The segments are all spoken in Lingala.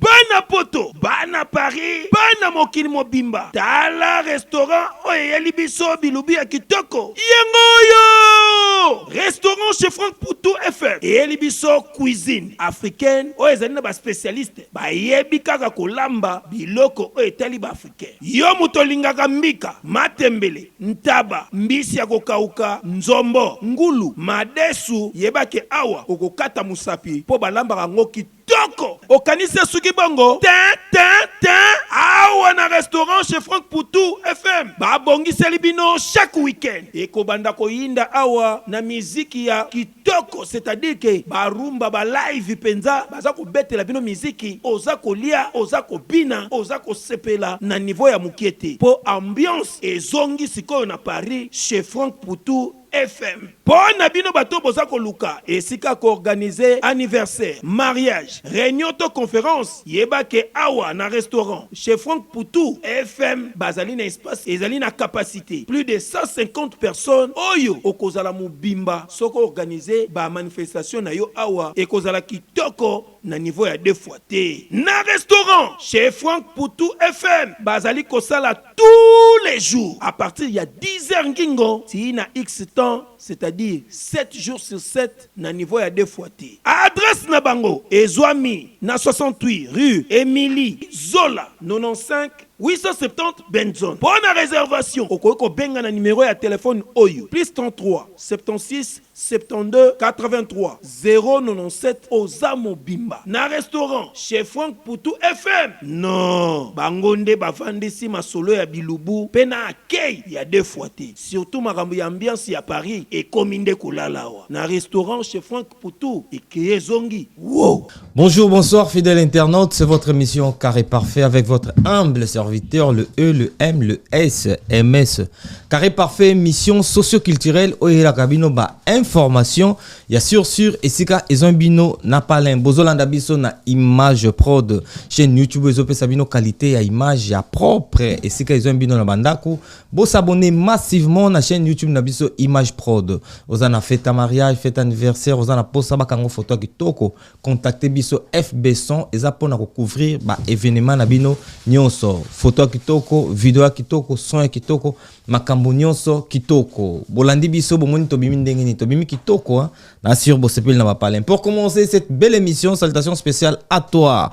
bana poto bana paris bana mokili mobimba tala restaurant oyo eyeli biso bilubi ya kitoko yango oyo restaurant chez frank poutou fm eyeli biso cuisine africaine oyo ezali na baspecialiste bayebi kaka kolamba biloko oyo etali baafricain yo moto olingaka mbika matembele ntaba, mbisi ya kokauka, nzombo, ngulu, madesu, yeba ke awa okokata mosapi po balambaka yango kitoko okanisi esuki bongo tin tin tin awa na restaurant chez Franck Poutou FM babongiseli bino chaque week-end ekobanda koyinda awa na miziki ya Kitoko c'est à dire que ba rumba ba live penza baza kobetela bino miziki oza kolia oza kobina oza kosepela na niveau ya mukie te po ambiance ezongi sikoyo na Paris chez Franck Poutou FM po na bino batu oyo boza koluka esika ya ko organiser anniversaire, mariage, reunion to conference. Yeba que awa na restaurant chez Franck Poutou FM bazali na espace ezali na capacite plus de 150 personnes oyo okozala mobimba soki o organiser ba manifestations na yo awa ekozala kitoko na niveau ya deux fois te. Na restaurant chez Franck Poutou FM bazali kosala tous les jours à partir ya 10 heures ngingo tii na X temps c'est à dire sept jours sur sept. na niveau ya deux fois te. Adresse na bango ezuami na 68 rue Emilie Zola 95 870 Benson. Mpo na reservation, okoki kobenga na numero ya telephone oyo, +33 76 72 83 097. Oza mobimba na restaurant chez Franck Poutou FM. Non, bango nde bavandisi masolo ya bilubu mpe na accueil ya deux fois te. Surtout makambo ya ambiance ya Paris ekomi nde kolala awa na restaurant chez Franck Poutou ekei ezongi woow. Bonjour, bonsoir, fidèle internaute. C'est votre émission Carré Parfait avec votre humble serviteur, le E, le M, le S, MS. Carré Parfait, émission socio-culturelle, Oyela Kabino, ba information, ya sur sur, et sika, ils ont bino, na palin, bozolanda biso, na image prod, chaîne YouTube, ils ont sabino qualité, ya image, ya propre, et sika, ils ont bino, na bandaku, Bo s'abonner massivement na chaîne YouTube na biso Image Prod. Oza na fête à mariage, fête anniversaire, oza na posa ba kango photo kitoko, contactez biso FB Son eza pona ko couvrir ba événements na bino nyonso. Photo kitoko, vidéo kitoko, son kitoko, makambo nyonso kitoko. Bolandi biso bomoni tobimi ndenge nini? Tobimi kitoko hein. Na sur bosepeli na ba palais. Pour commencer cette belle émission, salutations spéciales à toi.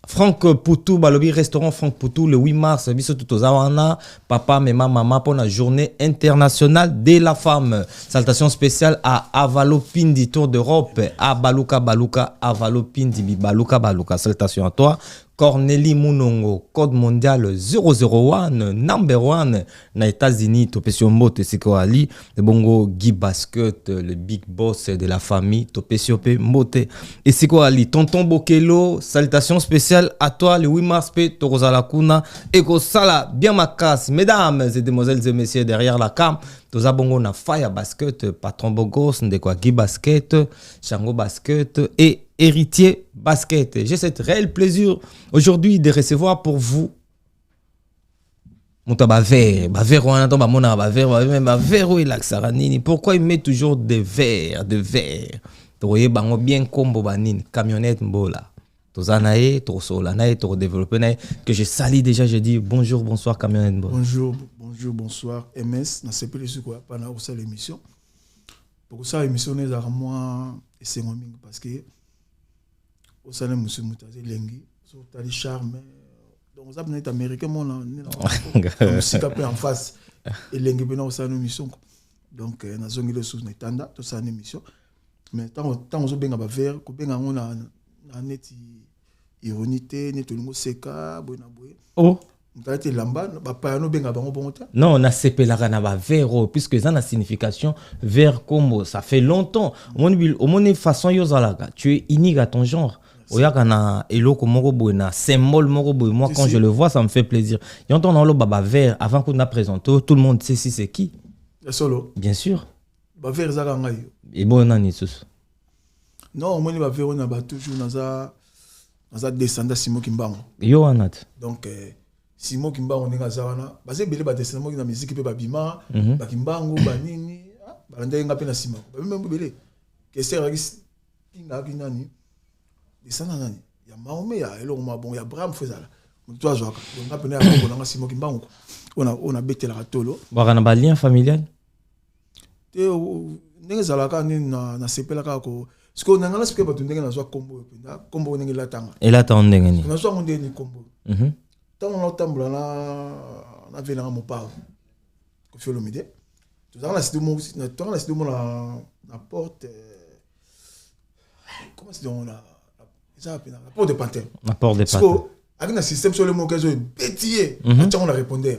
Franck Poutou balobi restaurant Franck Poutou le 8 mars biso tout toza wana papa mema mama pour la journée internationale de la femme salutation spéciale à Avalo Pindi Tour d'Europe à Baluka Baluka Avalo Pindi Bibaluka Baluka salutation à toi Cornelie Munongo code mondial 001 number 1 na Etats-Unis topesi yo mbote esika oali ebongo Guy Basket le big boss de la famille topesi yo mpe mbote esika oali tonton Bokelo salutation spéciale à toi le 8 mars mpe tokozala kuna ekosala bien makasi mesdames et demoiselles et messieurs derrière la cam toza bongo na Fire Basket patron Bogos ndeko ya Guy Basket Chango Basket et Héritier Basket j'ai cette réel plaisir aujourd'hui de recevoir pour vous moto ya bavere bavere wana to bamonaka bavere babe bavere oyo elakisaka nini pourquoi il met toujours de vere de vere tokoyeba yango bien nkombo banini camionnette mbola toza na ye tokosolola na ye tokodeveloppe na ye que je sali déjà je dis bonjour bonsoir camionnette mbola bonjour bonjour bonsoir ms nasepeli soki oya mpana kosala émission pokosala émission na ezalaka mwa esengo mingi parce que osala mosusu moto aza elengi so otali charme donc oza mpena ete américain mona mosika mpe en face elengi mpena osala no misonko donc euh, nazongi lisusu na etanda tosala na émission mais ntango ozobenga bavere kobenga yango na neti ironie te neti olingi oseka boye na boye oh. Mtalete lamba bapayano benga bango bongo te non nasepelaka na bavere oyo puisque eza na signification vere combo ça fait longtemps omoni omoni façon yo ozalaka tu es unique à ton genre oyaka na eloko moko boye na symbole moko boye moi quand je le vois ça me fait plaisir yango ntango naoloba bavere avant kutu na présente tout le monde sait si c'est qui ya solo bien sûr bavere ezaka ngai yo eboyo nani lisusu Non, omoni ba vero na ba toujours naza naza descendant Simon Kimbangu. Yo wana te. Donc euh, Simon Kimbangu ndenge aza wana, baza ebele ba descendant moki na musique pe babima, mm -hmm. ba Kimbangu ba nini, ah, balandaki nga pe na sima. Ba meme ebele. Kester akis kinga ki nani? Descendant nani? Ya Maome ya eloko ma bon ya Abraham Fezala. Mutu azwaka. Donc nga pe na ya bongo na nga Simon Kimbangu. Ona ona betela tolo. Baka na ba lien familial? te ndenge ezalaka nde nasepela kaka ko sikoyo na ngai nasepela bato ndenge nazwa nkombo oyo mpenza nkombo oyo ndenge elatanga elatanga ndenge nini nazwa yango ndenge nini nkombo mhm. ntango naotambola na na vele nanga mopao kofi olomide tozalaka na site moko tozalaka na site moko na porte euh, comment c'est donc la eza wapi na porte de pantin na porte de pantin sikoyo aki na système sole moko ezo ebeti ye mhm. atyango na répondeur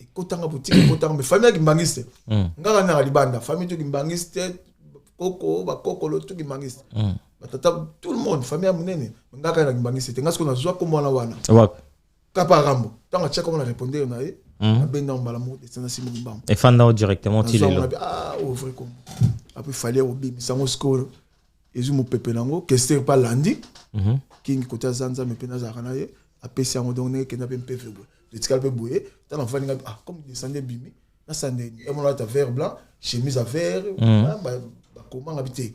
ekotanga boutique ekotanga mais famille ya kimbangiste mm. nga na na libanda famille to kimbangiste koko ba koko lo to kimbangiste mm. batata tout le monde famille ya munene nga ka na kimbangiste te nga siko na zwa ko mwana wana wapi kapa rambo tanga chaka mwana répondre na ye mm. abenda mbala mo descendre simo mbamba efanda directement tilelo ah ouvre comme après fallait obimisa ngo sikoyo ezwi mopepe na yango kester mpe alandi mhm. kingi kote aza nzambe mpe nazalaka na ye apesi yango donc ndenge kenda mpe mpeve boye etikali mpe boye ta nafandi ngai ah comme descende ebimi nasande emonalata vert blanc chemise ya vert mhm. ah, bakomanga bi te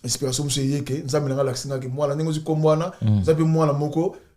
inspiration mosusu eyeke nzambe na ngai alakisi ngaki mwana ndenge ozwi kombo wana mhm. eza mpe mwana moko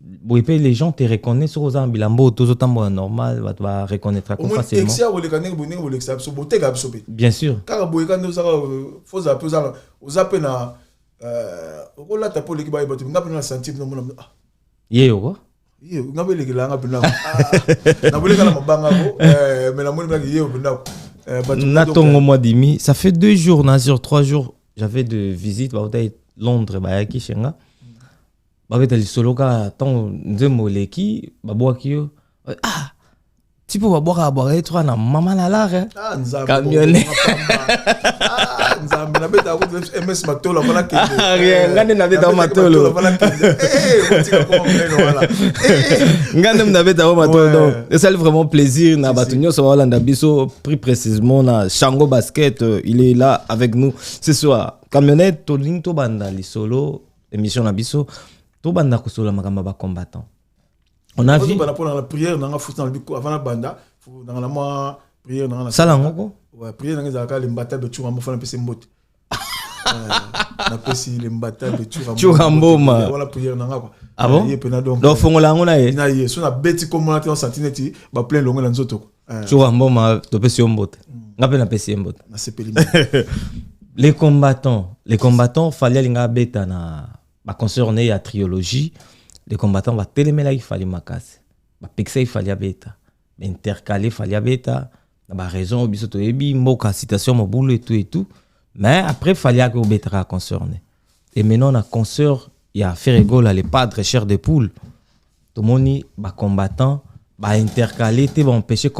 boye mpe les gens te reconnaissent soki oza na bilamba oyo tozo tambola normal bato ba reconnaîtra ko facilement ya koleka ndenge boye ndenge bolekisa biso boteka biso mpe bien sûr kaka boye kaka nde ozaka euh, fozala mpe ozaka oza mpe na euh, okolata mpe oleki bayeba te nga mpe na sentir no mona ah. ye yoko ye nga mpe elekela nga mpe ndako ah, naboleka na mabanga ko euh, mais namoni mpenaki ye mpe ndako na tongo mwa dimi ça fait deux jours na sur trois jours j'avais de visite bautaki londres bayaki chez nga babeta lisolo kaka ntango nzembo eleki babwaki yo ah ti mpo babwakaka bwaka ye twa na mama na lare camionne nzambe nabeta ms matolo afana kendenga nde nabeta o matolo nga nde nabeta o matolo donc esali vraiment plaisir na bato nyonso baolanda biso plus précisement na chango basket il est là avec nous ce soir camionnette tolingi tobanda lisolo Emission na biso tobanda kosola makambo ya bacombattant on a vu bana pona la prière nanga futi na biko avant na banda nanga na mwa prière nanga na sala ngoko ouais prière nanga ezalaka le mbata de chura mofana pese mbote na pesi le mbata de chura chura mboma wala prière nanga quoi ah bon ye pena donc donc fongola yango na ye na ye so na beti komona te on sentine ti ba plein longue na nzoto quoi Chura Mboma, topesi yo mbote. Nga pe napesi ye mbote. Nasepeli. Les combattants, les combattants fallait linga beta na ba concert ne ya trilogie. Les combattants ba telemela il fallait makasi. Ba pekisa il fallait beta. Ba intercaler fallait beta. Na ba raison biso to yebi mboka citation mobulu et tout et tout. Mais après fallait que obetaka concert ne. Et maintenant na concert ya Ferregola les padres chers de poule. tomoni ba combattants ba intercaler te ba empêcher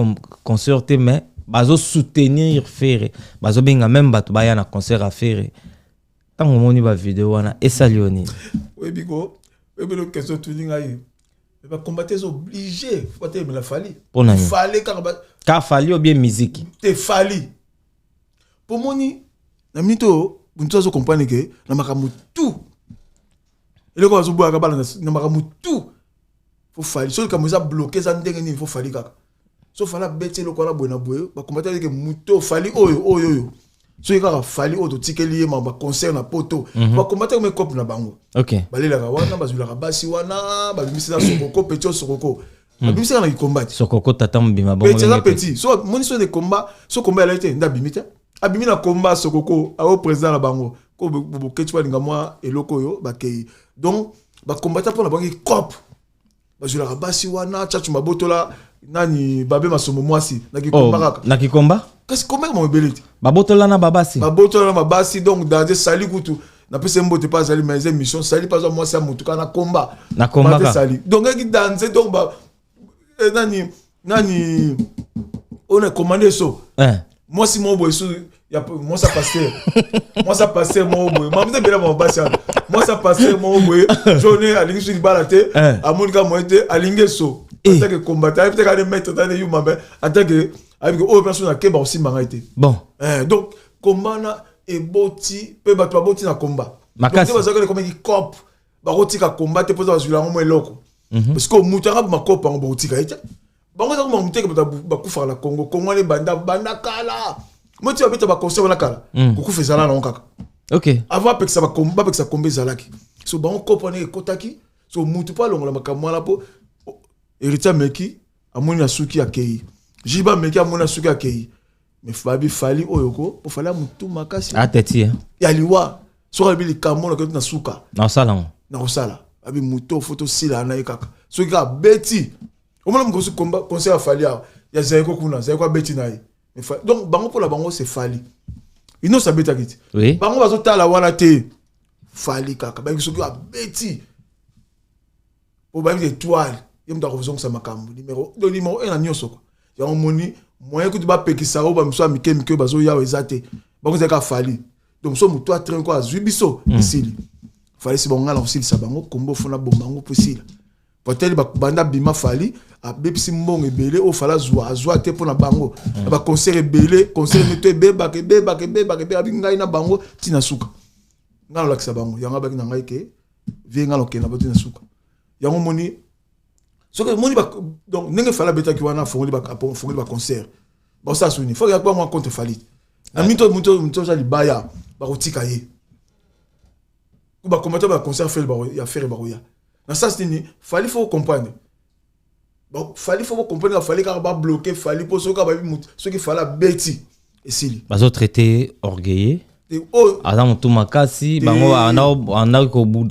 concert te mais bazo soutenir Ferre bazo benga même bato baya na concert à Ferre ntango omoni ba video wana esali yo nini oyebi ko oyebi lo question tuni ngai ba combattants sont obligés faut te la fali pona nini fali kaka ba ka fali ou bien musique te fali pomoni na mito buntu azo comprendre que na makambo tout eloko bazoboyaka bana na makambo tout fo fali soki likambo eza bloke eza ndenge nini fo fali kaka so fali abeti eloko wana boye na boye bakombata eke moto fali oyo oyo oyo soki kaka fali oyo totikeli ye ma baconcert na poto mhm. bakombata kome cope na bango balelaka wana bazwilaka basi wana babimisi na sokoko peti o sokoko mhm. babimisi kaka na kikombati sokoko tata mobima bongo peti eza peti so moni so de combat so combat elai te nde abimi te abimi na combat sokoko ayo président na bango ko boketch balinga mwa eloko oyo bakei donc bakombata mpo na bango ikope bazwelaka basi wana chachu mabotola nani babe masomo mwasi na kikomba oh, kaka na kikomba kasi komba kama ebele te babotola na babasi babotola na babasi donc danger sali kutu napesa mbote mpe azali mais emission sali mpe azwa mwasi ya motu kaka na komba na komba sali donc eki danger donc eh, nani nani oyo na commande so eh. mwasi moko boye so mwasa paster mwasa paster moko boye mamisa ebela bango basi wana mwasa paster moko boye jone alingi so libala te eh. amoni ka moye te alingi eso atake kombata ayebi te kane maître tane yuma me atake ayebi oyo mpe so nakeba kosimba ngai te bon donc komba na eboti mpe bato baboti na komba makasi bazalaki komeki cope bakotika combat te mpo eza bazwila yango mwa eloko mhm. parce que moto yanga makopa yango bakotika ye te bango eza koma moteke bato bakufaka na congo congo wana ebanda banda kala moti babeta baconcert wana kala mhm. kokufa ezala nango kaka ok avant apekisa bapekisa komba ezalaki so bango kopa wana ekotaki so moto mpo alongola makambo wana mpo heritier ameki amoni asuki akei jiba ameki amoni asuki akei mais fabi fali oyo ko po fali mutu makasi ateti ah, ya liwa soki alobi likambo nakoti na suka nakosala yango nakosala abi moto fo tosila na ye kaka soki kaka abeti omona mokosi conseil ya fali awa ya zaiko kuna zaiko abeti na ye donc bango mpo na bango se fali inos abetaki ti oui. bango bazotala wana te fali kaka bayeki soki abeti po bayebi te etoile ye moto akozongisa makambo nimero do nimero e na nyonso kwa yango moni moyen kutu bapekisa oyo bamosusu ya mike mike oyo bazoyawa eza te bakozala kaka fali donc mosusu motu ya train ko azwi biso hmm. esili fali si bango ngai na kosilisa bango kombo fona bomba yango mpo esila patele banda bima fali abebisi mbongo ebele oyo fala azwa azwa te mpo na bango na baconcert ebele concert neto ebebaka ebebaka ebebaka ebebaka abi ngai na bango ntina suka ngai nalakisa bango yango abaki na ngai ke vie ngai nakokende bati na suka yango moni soki omoni donc ndenge fali abetaki wana afongoli baconcert baosala souveni fo yaki bango contre fali na mito moto oza libaya bakotika ye bakombata baconcert fele ya fere bakoya na sasi nini fali fo comprendre fali faut bo comprendre ka fali kaka ba bloquer fali po soki ba mutu soki fala beti esili bazo traiter orgueilleux oh. aza motu makasi bango andaki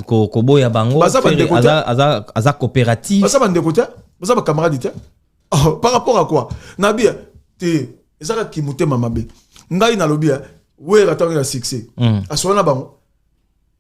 koboya bango aza coopérative baza bandeko te baza bacamarade te oh, par rapport à quoi nabi te eza kaka kimotema mabe ngai nalobi wera ntango ya succès hmm. aswana na bango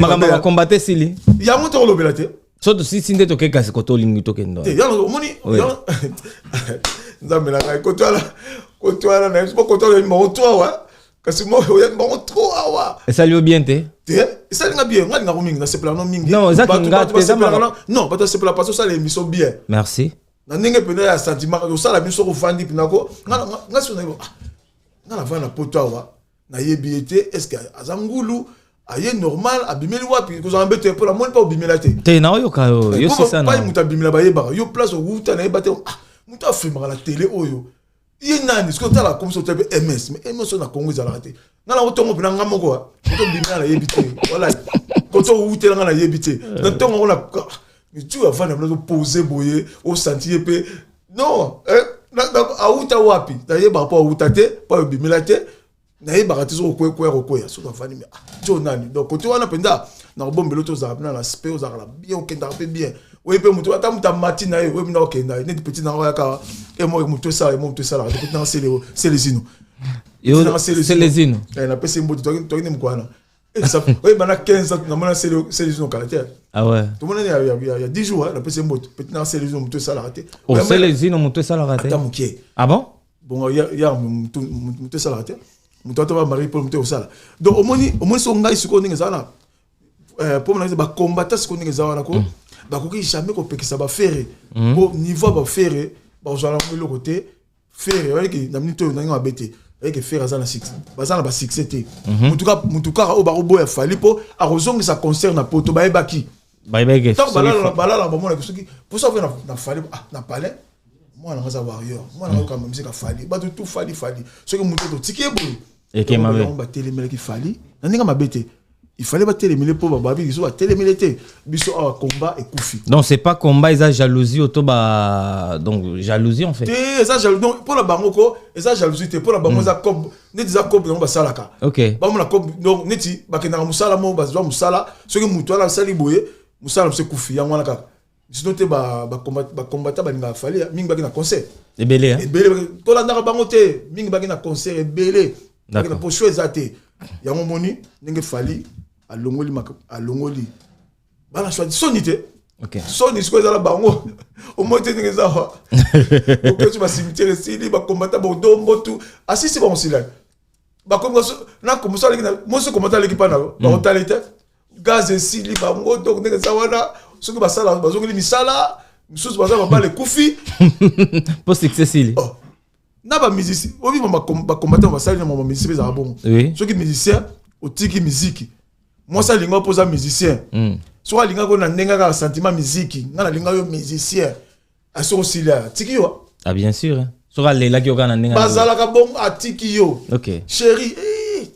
makambo ya kombate esili yango tokolobela te so tosisi nde toke kasi koto olingi tokende omoni nzambe na ngai kotwala kotwala na biso bakotwala yebi bango to awa kasi oyebi bango tro awa esali yo bien te te esali nga bien nga lingako mingi nasepelaka no mingi non bato basepelaka paso osala emission bien merci na ndenge mpenza ya sentiment osala biso kofandi mpenako nga sona nga navanda na poto awa nayebi ye te est ce que aza ngulu aye normal abimeli wapi kozala mbeto mpo namoni mpa obimela te te naoyoka yo eh, yosisanapai moto abimela bayebaka yo place owuta nayeba te ah, moto afilmaka na tele oyo ye nani soki otala akomisa otya mpe ms mais ms oyo na congo ezalaka te nga nango ntongo mpena nga moko ah, moto obimela nayebi te wala koto owutela nga nayebi te eh. na ntongo yango mitu avanda mna pose boye osanti ye mpe non eh, awuta wapi nayebaka mpo awuta te mpo ayobimela te nayebaka te soki koya kokwea soki avandi me ah, jo nani donc kote wana mpenza na kobombela oto ozalaka mpe na respect ozalaka na bien okendaka mpe bien oye mpe moto ata moto amati na ye oye mna okenda ye neti peti nanga oyaka emo eh, moto esala emo moto esalaka te peti nanga selezino selezino eh, napesi mbote toyaki nde mokwana oyeba na 15 ans namona selevision kala te tomonani ya 10 jours napesi ye mboto peti na selevision moto esalaka te selevision moto esalaka te ata moke abon ah bongo ya moto esalaka te moto ata ba marie pole moto ekosala donc omoni omoni so ngai sikoyo ndenge eza wana eh, po mona bakombata sikoyo ndenge eza wana ko mm. bakoki jamais kopekisa bafere po mm. niveau ya bafere bakozala yango eloko te Ferre, oye ke na minute oyo ndenge mabe te. Oye ke Ferre aza na succès. Baza na ba succès te. Mhm. Mutu ka mutu kaka oyo bako boya Fally po akozongisa concert na poto bayebaki. Bayebaki ke. Tango balala balala bamona ke soki posa oyo na na Fally ah na palais mwana aza warrior mwana ayoka musique ya Fally bato tout Fally Fally soki mutu totiki ye boye yango batelemelaki fali na ndenge mabe te il fallait batelemele mpo bababi biso batelemele te biso awa combat ekufi non c'est pas combat eza jalousie oto ba donc jalousie en fait te eza jalousie donc mpo na bango ko eza jalousie te mpo na bango hmm. eza cob neti eza cob yango basalaka ok bamona cob donc neti bakendaka mosala moko bazwa mosala soki moto wana asali boye mosala mosu ekufi yango wana kaka sinon te ba ba combat ba combattant ba ninga fallait hein. mingi baki na concert ebele hein ebele to la ndaka bango te mingi baki na concert ebele baki na pocho ezate yango moni ndenge fali alongoli mak alongoli bana soit soni te okay. soni sikoyo ezala bango omoi te ndenge eza wa okoti ba cimetière esili ba combattant bodombo tu asisi bango silani bakomi na komoso aleki mosi komata aleki mpa na yo bakotala ete gaz esili bango donc ndenge eza wana soki basala bazongeli misala misusu baza babala ekufi mpo succès esili oh. na bamusicien oyebi bacombatant basali na mama musicien ezala bongo soki musicien otiki miziki mwasi alinga mpo oza musicien hmm. soki alingaki na ndenge kaka sentiment miziki ngai nalinga yo musicien Aso osili atiki yo. Ah bien sûr. Hein. Soki alelaki yo kaka na ndenge. Bazalaka bongo atiki yo. Okay. Chérie. Eh.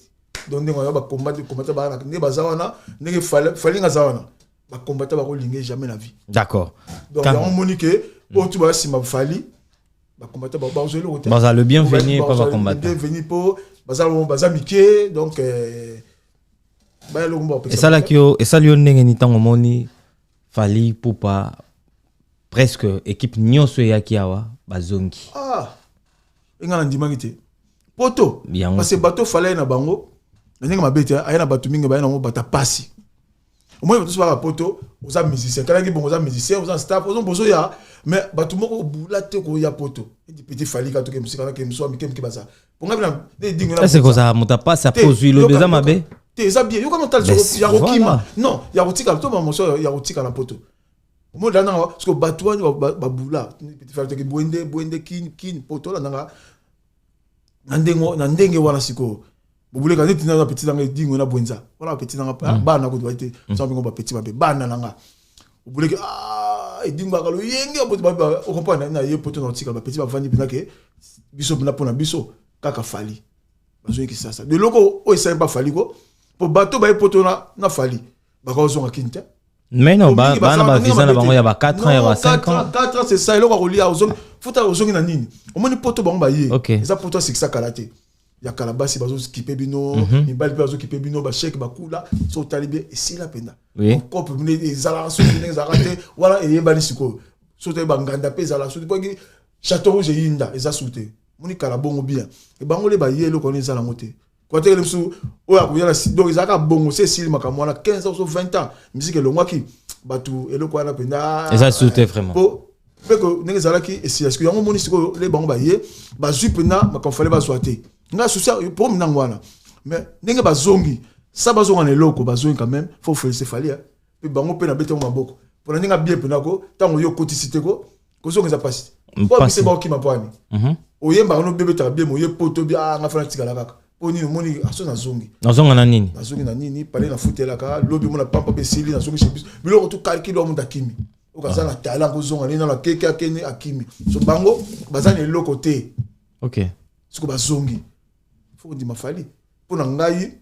Donc ndenge wana ba combat de combattre ba ndenge baza wana ndenge fali nga za wana. Ba combattre ba ko linge jamais la vie. D'accord. Donc Quand... on moni que bon tu vas si ma fali ba combattre ba ba ozeli ko te. Baza le bienvenu pas ba combattre. Bienvenu po baza baza mike donc euh, ba lo mbo. Esalaki yo esali yo ndenge ni tango moni fali pupa presque equipe nyoso eyaki awa bazongi ah enga na ndimaki te poto parce que bato falaye na bango na ndenge mabe te aya na bato mingi baya nango bata pasi omoi bato sobaka poto oza musicien kalaki bongo oza musicien oza staff oza bozo ya mais bato moko obula te koya poto edi petit fali ka toke musika na ke muswa mike mike baza ponga bina ne dingo na c'est koza muta pasi a pozui lo beza mabe te eza bien yoka no tal ya kokima non ya kotika to ba moso ya kotika na poto Omo da nanga parce que batu wani ba bula petit frère teke bwende bwende kin kin poto la nanga na ndenge na ndenge wana siko bobuleka neti na petit nanga dingo na bwenza wana petit nanga mm. bana ko doit te mm. sans bingo ba petit ba bana nanga obuleki ah dingo akalo yenge poto ba o comprendre na ye poto na tika ba petit ba vandi bina ke biso bina pona biso kaka fali bazoyiki sasa de loko oyo esali bafali ko po bato baye poto na, na fali bakozonga kin te mais non ba- bana bavisa na bango ya ba 4 ans ya ba 5 ans 4 ans c'est ça eloko akolia ozongi futa ozongi na nini omoni poto bango baye Ok. eza poto asikisa kala te ya kala basi bazokipe bino Mhm. mibali mpe bazokipe bino basheke bakula so otali bie esila mpenza Oui. kope mine ezalaka soki ndenge ezalaka te wana eyebani sikoyo so otali banganda mpe ezalaka soki mpo eki chateau rouge eyinda eza su te moni kala bongo bien ebango le baye eloko wana eza nango te koatekele biso oyo akoya na donc ezalaka bongo se esili makambo wana 15 ans so 20 ans miziki elongwaki bato eloko wana mpenza eza lisusu te vraiment po mpe ndenge ezalaki esila sikoyo yango omoni sikoyo le bango baye bazwi mpenza makambo fale bazwa te ngai susi problème nango wana mais ndenge bazongi sa bazonga na eloko bazongi quand même faut félicite fali mpe bango mpe nabeti yango maboko mpo na ndenge abie mpena ko ntango yo okotisi te ko kozongeza mpasi mpo abise baokima mpo ani mhm. oyembaka no bebetaka bie moye poto bi anga ah, fana tikala kaka mpo nini omoni aso ah, nazongi nazonga na nini nazongi na nini pale nafutelaka lobi mona pampa mpe esili nazongisi biso biloko tu kalkilo ya moto akimi okaza na tala kozonga nini nano akeke akende akimi so bango baza na eloko te ok siko bazongi fo kondima fali mpo na ngai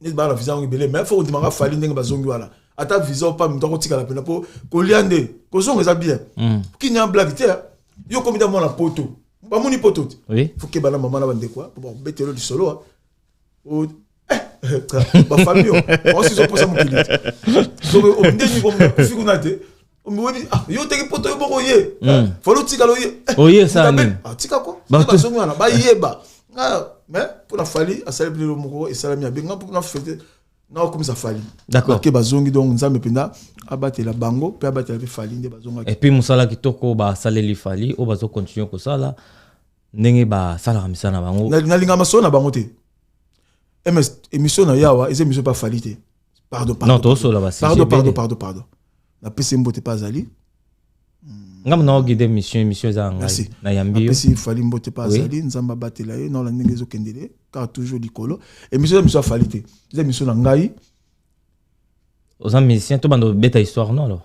neti bana visa yango ebele mais fo kondimaka fali ndenge bazongi wana ata visa opa moto akotikala mpena mpo kolia nde kozonga eza bien mm. kini ya blage te yo okomi ta mwana poto bamoni poto te oui. fokeba na mama na bandeko mpo bakobetelo lisolo eh, bafamille oyo osi ozoposa mokili te ndenge okomi kuna te omiwebi ah, yo oteki poto yo moko ye mm. eh, fali otikala oye eh, oye sani ah, tika ko bazongi wana bayeba ah, mais mpo na fali asali bilelo moko esalami ya benga mpo na fete naokomisa fali ke bazongi donc nzambe mpenza abatela bango mpe abatela mpe fali nde bazongaki epuis mosala kitoko basaleli fali oyo bazokontinue kosala ndenge basalaka misala na bango nalinga masolo na bango te ms emission na yawa eza emission mpe afali te pardon pardon tosola ba pardon pardon pardon pardon na pese mbote pa azali nga mona ogide mission émission eza ngai na yambi yo pesi fali mbote pa azali nzambe abatela ye na ola ndenge ezokendele car toujours likolo émission eza mission afali te eza mission na ngai oza musicien to banda obeta histoire non alors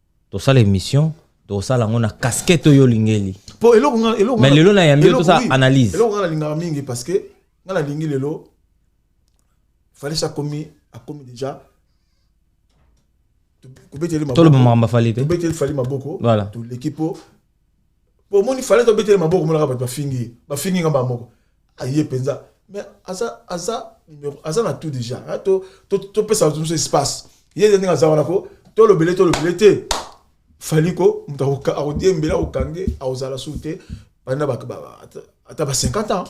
tosala émission tosala yango na casquette oyo olingeli po eloko nga eloko mais lelo na yambi tosala analyse eloko nga nalingaka mingi parce que nga nalingi lelo falesi akomi akomi déjà tolobamaka mbafali te tobeteli fali maboko voilà toleki po po omoni fale tobetele maboko monaka bato bafingi ye bafingi nga mbala moko aye mpenza mais aza aza numero aza na tout déjà topesa bato mosusu espace ye ndenge aza wana ko tolobele tolobele te fali ko moto akodiembela akokange akozala su te banda ata ba 50 ans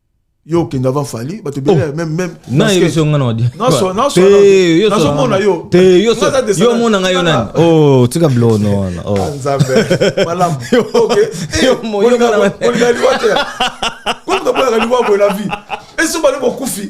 yo okende avant fali bato ebele oh. même même nayebiso nga nazomona yo yo omona ngai yo nani o tika blono wana oh. ah, nzambe malamu okeolingaliwatelaka liwa boye na vie eso bali bokufi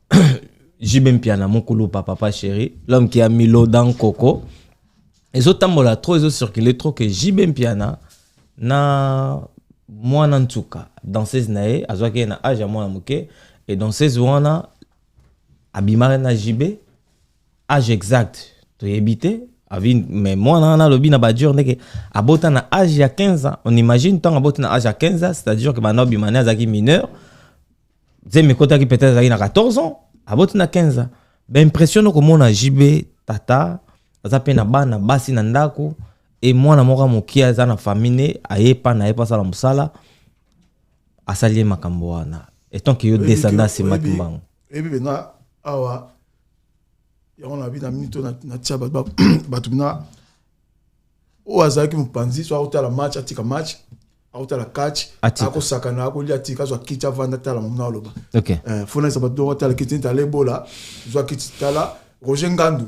JB Mpiana mukulu papa papa chéri l'homme qui a mis l'eau dans coco ezotambola trop ezocircule trop que JB Mpiana na mwana ntuka danseuse na ye azwaki ye na age ya mwana moke e danseuse wana abimaki na JB age exact toyebi te avi mais mwana wana alobi na badure ndeke abota na age ya 15 ans on imagine ntango aboti na age ya 15 ans c'est-à-dire que bana obima ne azalaki mineur zemi ekotaki peut-être azalaki na 14 ans aboti na 15 ans baimpression nokomona jb tata aza mpe na bana basi na ndako e mwana moko ya mokie aza na famille ne aye epa na ye mpo asala mosala asali ye makambo wana etant ke yo descendant asima kimbangu eyebi mpenza awa yango nabi na minito natia bato na oyo azalaki mopanzi so akotala match atika match akotala catch Atika. akosakana akolia tika azwa kiti avanda tala mamuna aloba ok Eh, fona eza bato doko tala kiti tala ebola zwa kiti tala roger ngandu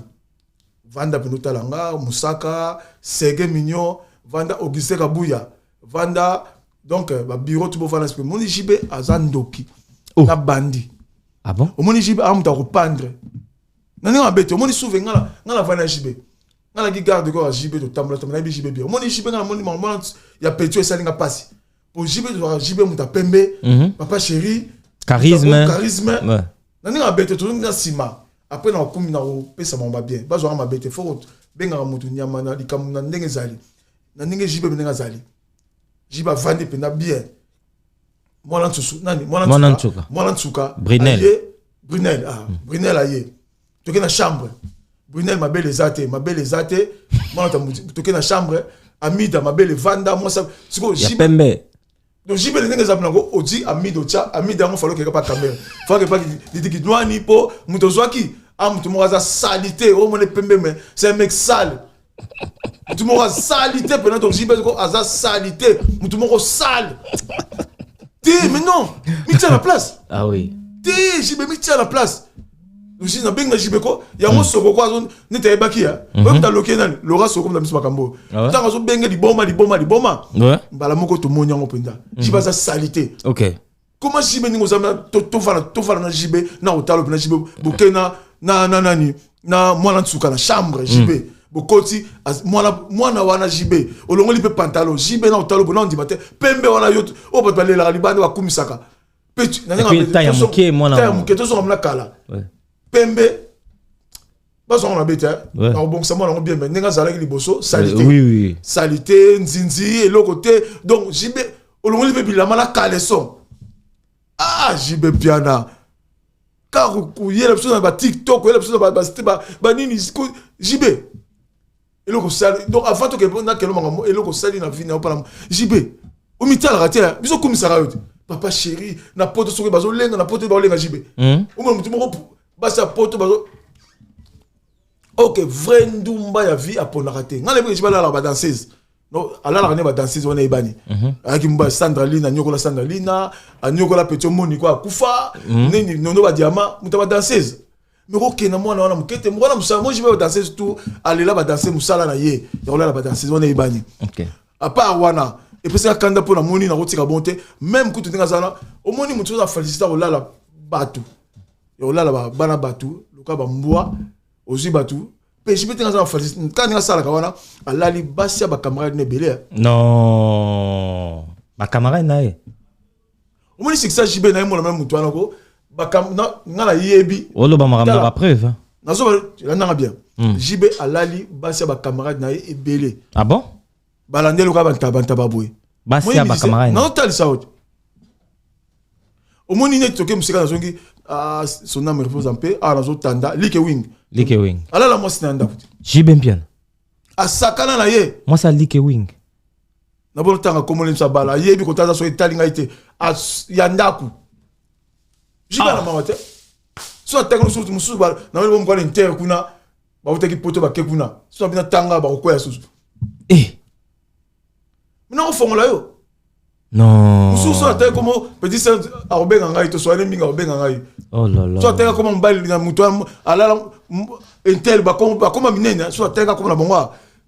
vanda mpenza otala nga mosaka sege mignon vanda auguste kabuya vanda donc eh, babiro tu bovanda spe omoni jb aza ndoki Oh. na bandi ah bon omoni jb aza moto akopandre na ndenge mabe te omoni suve nga na- nga na vanda ya jb nga naki garde corps ya JB totambola tambola nayebi JB bien omoni JB nga namoni mama ya petio esali nga pasi po JB tozwaka JB moto ya pembe mhm. papa chéri charisme charisme na ndenge mabe te tozongi na nsima après na kokumbi na kopesa bango babien bazwaka mabe te fo bengaka moto nyama na likambo na ndenge ezali na ndenge JB ndenge azali JB avandi mpenza bien mwana nsusu nani mwana nsuka mwana nsuka brunel brunel ah hmm. brunel aye toke na chambre brunel mabele eza te mabele eza te mwana toke na chambre amida mabele vanda mwasi sikoyo pembe donc jibele ndenge eza mnango odi amida otya amida yango falo okeka pa kamere fake pa litikidwani mpo moto ozwaki a ah, moto moko aza salite omona pembe me c'est un mec sale mutu moko asali te pena donc jibes ko aza sali te mutu moko sale te mais non mitia na place ah oui te jibe mitia na place lusi nabenga jibe ko yango soko ko azo neti ayebaki ya oyo mutu aloki ye nani lora soko mutu miso makambo oyo Ah ouais? ntango azobenge liboma liboma liboma Ouais. mbala moko tomoni yango mpenza jibe aza sali te ok Comment JB ningo zama to to fala to fala na JB na otalo na JB boke na na na nani na mwana nsuka na chambre JB mm. bokoti mwana mwana wana JB olongoli mpe pantalon JB na otalo bona ondima te pembe wana yo oyo bato balelaka libanda bakumisaka mpe ya moke mwana ya moke tozonga mna kala pembe bazwaka mabe te nakobongisa mwana yango bien me ndenge azalaki liboso salite eh, salite nzinzi eloko te donc jb olongoli mpe bilamba na caleson ah jb piana kaka koyela biso na batiktok koyela biso na banini jb eloko sali donc avant tokende mpo nakelo makambo eloko sali na vini opala jb omitalaka te biso okumisaka yo te papa chéri na poto soki bazolenga na poto baolenga jb hmm? omona motu moko basi ya poto bazo ok vrai ndumba ya vie aponaka te ngai nayebi jb alalaka badanseuse no alalaka nde badanseuse wana eyebani mhm. ayaki mobali sandra lina anyokola sandra lina anyokola peti omoni ko akufa hmm? nini nono badiama moto ya badanseuse mais kokenda mwana wana moke te mwana mosala moi jibe badanseuse tout alela badanse mosala na ye ya kolala badanseuse wana eyebani apart wana epesaka kanda mpo namoni nakotika bon te meme kutu ndenge azana omoni motu oza felicite kolala bato ya kolala bana bato loka bambwa ozwi bato mpe jibe te naza na felicite kaka ndenge asalaka wana alali basi ya bacamarade na ebele non bacamarade na ye omoni sikisa jibe na ye mona meme moto wana ko bakambo nga nayebi oloba makambo na bapreuve nazoba landanga bien hmm. jibe alali basi ya bacamarade na ye ebele ah bon balandeli oka bantabantaba boye basi ya bacamarade nazotalisa ote omoni neti toke mosika nazongi ah, son ame repose en paix awa ah, nazotanda like wing like wing alala mwasi na ya ndako te jibe mpiana asakana na ye mwasi ya like wing na bono tanga kombo lemsa bala ayebi kotala so etali ngai te ya ndaku jiba na ah. mawa te so atanga mosusu mosusu na moni bomokwana intere kuna bautaki poto bake kuna so abina tanga bakokwea susu eh. mina kofongola yo mosusu so atali komo petit sœur akobenga ngai to soane mingi akobenga ngai oh so atali akoma mobali na moto alala intere bakoma minene so atali akoma na bongo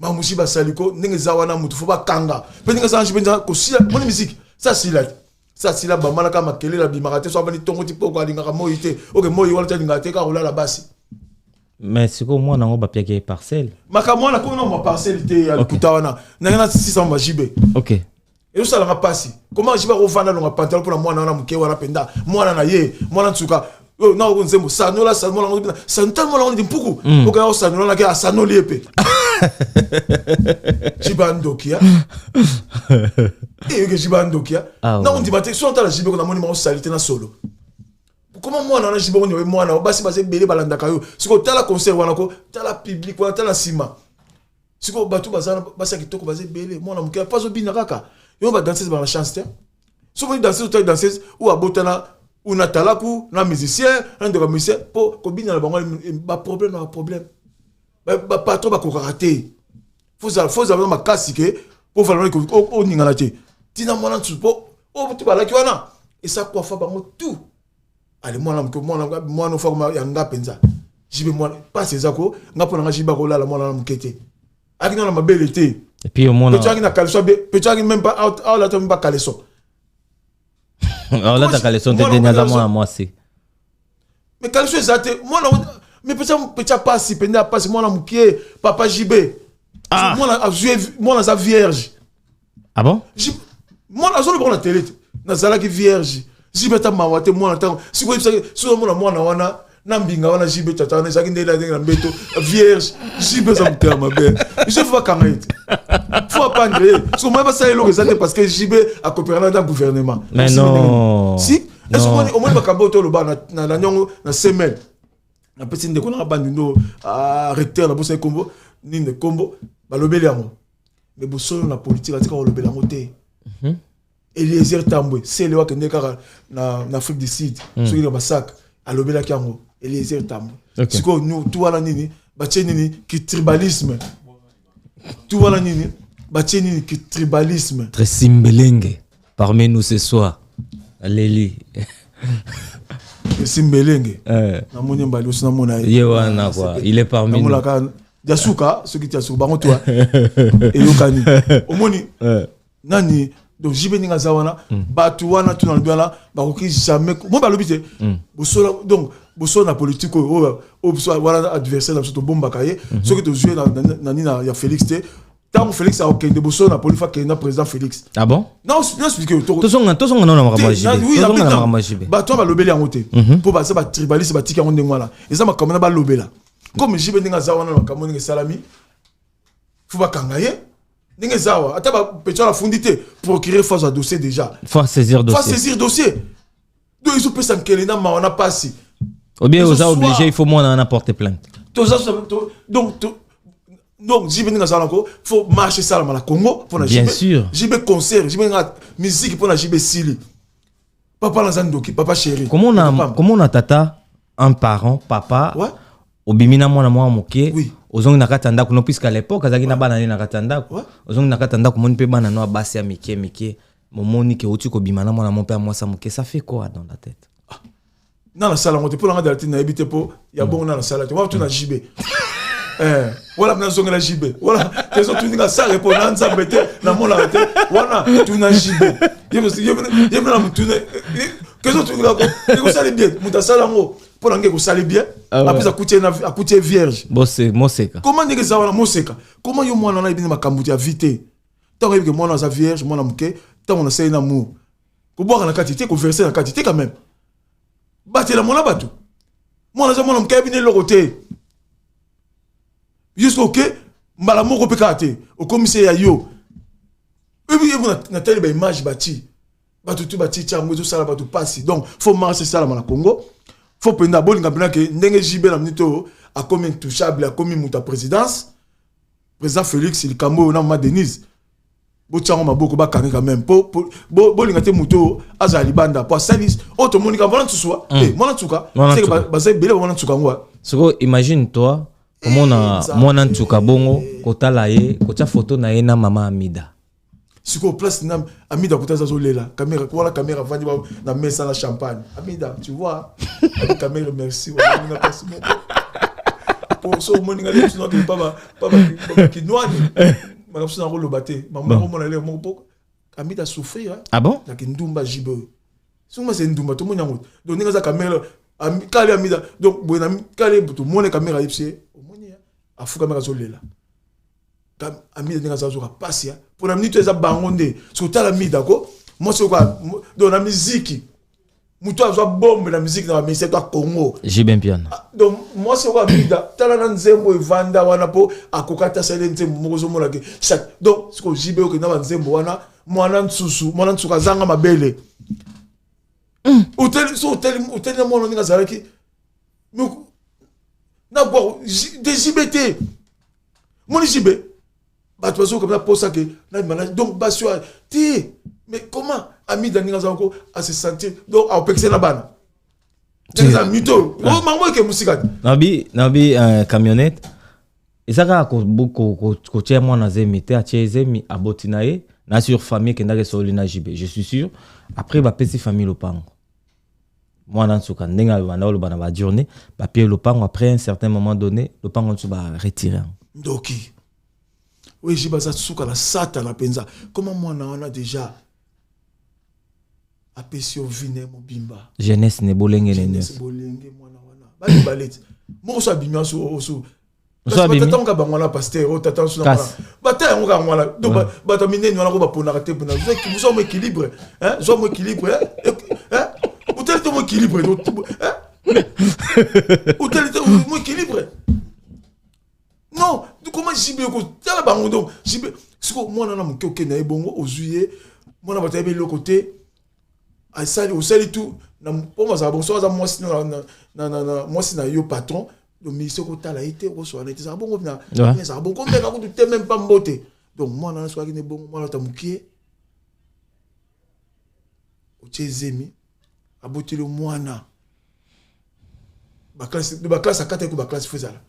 Ma musi ba saliko ndenge za wana mutu faut ba kanga. Pe ndenge za njibe nza ko sila moni musique. Ça sila. Ça sila ba malaka makele la bimaka te so abani tongo ti poko alinga ka moyi te. Ok moyi wala ta linga te ka rola la basi. Mais siko mwana ngo ba piake parcelle. Maka mwana ko no ma parcelle te ya lokuta wana. Nanga na 600 ba jibe. Ok. ezosalanga mpasi koma jiba kovanda longa pantalo mpona mwana wana moke wana mpenza mwana na ye mwana nsuka oyo na oko nzembo sanola sanola ngo bina santan mwana ngo mpuku mm. oka yao sanola na ke asanoli epe jiba ndokia eyoke jiba ndokia ah, na ondima te so ntala jibe ko namoni mako salite na solo koma mwana wana jiba onyowe mwana basi baza ebele balandaka yo sikoyo tala conseil wana ko tala public wana tala nsima sikoyo bato baza basi ya kitoko baza ebele mwana moke mpo azobina kaka yo badanseuse bana chance te soki omoni danseuse otali danseuse oyo abotana ou na talaku na musicien na ndeko ya musicien mpo kobina na bango baproblème na baproblème bapatron bakokaka te fozala makasi ke mpo valana oningana te ntina mwana nsusu mpo oyo oh, motu balaki wana esa kwafa bango tout ale mwana moke mwana mwana ofakoma ya nga mpenza jibe mwana mpasi eza ko nga mpo na nga jibe akolala mwana na moke te aki nana mabele te epuis omona peto aki na kaleso be peto aki meme pas aolata meme pas kaleso aolata kaleso te deni aza mwana mwasi me kaleso eza te mwana me peto peto apasi mpenza apasi mwana moke papa jibe ah. mwana azwi mwana aza vierge ah bon mwana azoloba ngo na tele te nazalaki vierge jibe ata mawa te mwana ntango sikoyo ebisaki soki omona mwana wana na mbinga wana jibe tata wana ezalaki ndenge ndenge na mbeto vierge jibe eza motema mabe je fo bakanga ye te fo apandre ye soki omoni basala eloko eza te parce que jibe akoperana na gouvernement Mais non. si Non. esoki omoni- omoni makambo oyo toloba na- na na niongo na semaine napesi ndeko nanga bandindo ah, recteur nabosani nkombo nini nkombo balobeli yango mais bosolo na politique atika kolobela yango te mhm. eliezer tambwe sele wakende kaka na, na afrique du sud mm. soki na basaka alobelaki yango eliezer tambwe okay. sikoyo tu wana nini batie nini kitribalisme tu wana nini batie nini kitribalisme tresimbelenge parmi nous ce soir aleli esi mbelenge eh. namoni mbali osi namona ye wana kua il est parmi namolaka ya suka soki tia suka bango twa eyokani omoni eh. nani donc jibe ndenge aza wana hmm. bato wana tuna lobi wana bakoki jamais moi balobi te hmm. bosola donc bosolo na politique oyo oyo oh, oh, wana adversaire na biso tobombaka ye hmm. soki tozwi ye na nini ya félix te ntango felix akokende bosolo na polifa akende na président felix ah bon tozonga tozonga nao na makambo ya jibe tozonga na makambo ya jibe bato wana balobeli yango te mhm. mpo baza batribaliste batiki yango ndenge wana eza makambo na balobela comme jibe ndenge aza wana na makambo ndenge esalami fo bakanga ye ndenge eza awa ata bapetion afundi te procureur fo azwa dossier déjà fo saisir dossier donc ezopesa nkele na mawa na pasi obien oza oblige il faut mwana wana porte plainte toza donc donc jibe ndenge azala nango faut marche esalama na congo mpona jibe concert jibe nga miziki mpona jibe esili papa naza ndoki papa chéri komona tata un parent papa ouais? obimi na mwana mwa moke oui. ozongi na kati ya ndako no puisque à l'époque azalaki ouais. na bana ne na kati ya ndako ouais. ozongi na kati ya ndako omoni mpe bana no ya basi ya mike mike momoni ke outi kobima na mwana mo mpe ya mwasi ya moke ça fait quoi dans la tête ah, na nasala yango te mpo na ngai dalatine nayebi te mpo ya bongo na nasala te watu na jb eh, wala mna nazongela jb wala tezo tuninga sale mpo na nzambe te namonaka te wana tuna jb ye mna na motune kezo tuninga ko ekosali bien moto asala yango mpo na ngai ekosali bien ah apres akuti ye vierge moseka koma ndenge eza wana moseka koma yo mwana na yebi nde makambo ya vi te Tant que moi dans sa vierge, moi na muke, tant on essaye l'amour. Ko boire na kati, te ko verser na kati, te quand même. Batela mona batu. Moi na za mona muke bine loko te. Jusqu'au que mbala moko pe kate, au commissaire ya yo. Ebi ebi na na tali ba image bati. Batu tu bati tsa mwezo sala batu pasi. Donc faut marcher sala na Congo. Faut penda bolinga penda ke ndenge JB na minute a comme intouchable, a comme muta présidence. President Felix likambo oyo na mama Denise botiango maboko bakangi quand même po bolinga te moto azala libanda po asali oyo tomoni ka mwana nsusua mm. eh, mwana nsuka baza ebele ba mwana nsuka yango ah. sikoyo imagine toi komona eh, mwana nsuka bongo kotala ye kotya foto na ye na mama amida sikoyo place na amida kuta aza azolela kamera wana kamera avandi na mesa na champagne amida tu vois abi kamera merci wanamina place moko po so omoni ngai lebiso nakende pa kinwani makambo so nakoloba te mamako omona leo moko po amida souffrir ah bon na kindumba jibe soki masa endumba tomoni yango donc ndenge aza kamera kale amida donc boye na kale tomoni kamera yebisi ye omoni afukamaka azolela amida ndenge aza azoka mpasi mpo na minute eza bango nde soki otala mida ko mwasi oyoka do na miziki moto azwa bombe na miziki na bamisi to akongo jibempiana ah, donc mwasi oyoka mida tala na nzembo evanda wana mpo akoka ata asali nzembo moko ozomona ke chaque donc siko jibe oke na banzembo wana mwana nsusu mwana nsusu azanga mabele hmm. oteli na mwana ndenge azalaki na gwaro dezibe te moni zibe bato bazoki kabisa mposa ke nabima na donc basi oyo te mais comment amida ndenge azala ko ase sentir donc aopekisa na bana eza mito oyo ah. oh, mango eke mosika te nabi nabi euh, camionnette eza kaka kotia mwana zemi te atie zemi aboti na ye na sur famille ekendaki esololi na jibe je suis sûr après bapesi famille lopango mwana nsuka ndenge abanda oloba na bajournée bapie lopango après un certain moment donné lopango nsusu baretire yango ndoki oyo eji baza suka na satana mpenza koma mwana wana déjà apesi yo vi na mobimba jeunesse ne bolenge ne nyonso bolenge mwana wana bamibale ti moko so abimi aso batata moka bango wana paster oyo tata nso bata yango kaka wana donc bato ya minene wana ko baponaka te mpona zwa mo équilibre zwa mo équilibre otali te mo équilibre otali te mo équilibre non comment jibe kotala bango donc jibe siko mwana na moke okende na ye bongo ozwi ye mwana bato ayebi eloko te asali osali tu mpo mazala bonso aza mwasi na yo patron donc ministre okotala ye te okoswana ye te ezalaka bongo na ezalaka bongo komeka kutu te meme pa mbote donc mwana wana soki ne bongo mwana ata mokie otie zemi aboteli mwana baklase akataki baklase fo ezala